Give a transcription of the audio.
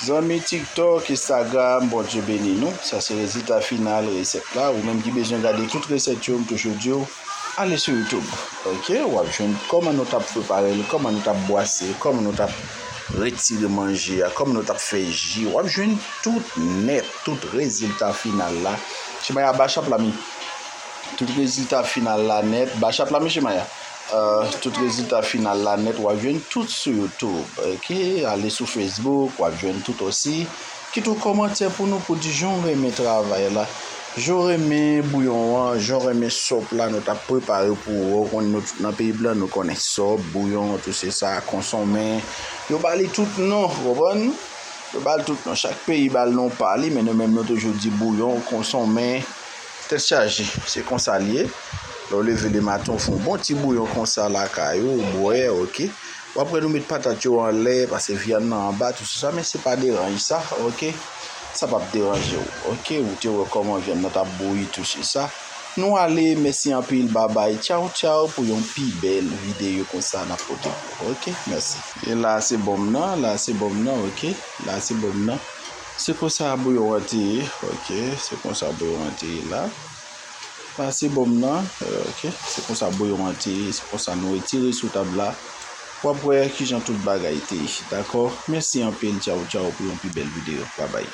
Zanmi tiktok, instagram Bondye beni nou. Sa se rezilta final resèt la. Ou menm ki bezwen gade tout resèt yo m toujou diw ale sou youtube ok wap jwenn kòman nou tap preparel kòman nou tap bwase kòman nou tap retire manje a kòman nou tap fè ji wap jwenn tout nèt tout rezilta final la chimay a bachap la mi tout rezilta final la nèt bachap la mi chimay a. Tout rezilta final la nèt wap jwenn tout sou youtube ok ale sou facebook wap jwenn tout osi kit yon kòmantè pou nou pou di jan w renmen travay la jan w renmen bouyon an jan w renmen sop la nou tap prepare pou ou ou konnen nou tout nan peyi blan nou konnen sop bouyon tou se sa konsonmen yo ba li tout non ou konprann yo ba li tout non chak peyi ba li non pa li men nou menm nou toujou di bouyon konsonmen. Tèt chaje, se konsa l ye. Lè w leve lematen w fè yon bon ti bouyon konsa lakay ou, ou bwè, ok. Ou apre nou met patat yo anlè, pase vyann nan anba, tout sou sa, men se pa deranj sa, ok. Sa p ap deranje w, ok. Ou te wè kòman vyann nan t ap bouyi tou sou sa. Nou ale, mèsi anpil, babay, tchaw tchaw pou yon pi bèl videyo konsa n ap pote pou ou, ok. Mèsi. E la se bon m nan, la se bon m nan, ok. La se bon m nan. Se konsa bouyon an te ye ok se konsa bouyon an te ye la pase bonm nan ok se konsa bouyon an te ye se konsa nou retire sou tab la wap wè kijan tout bagay te ye dakò mèsi anpil tchaw tchaw pou yon pi bèl video babay.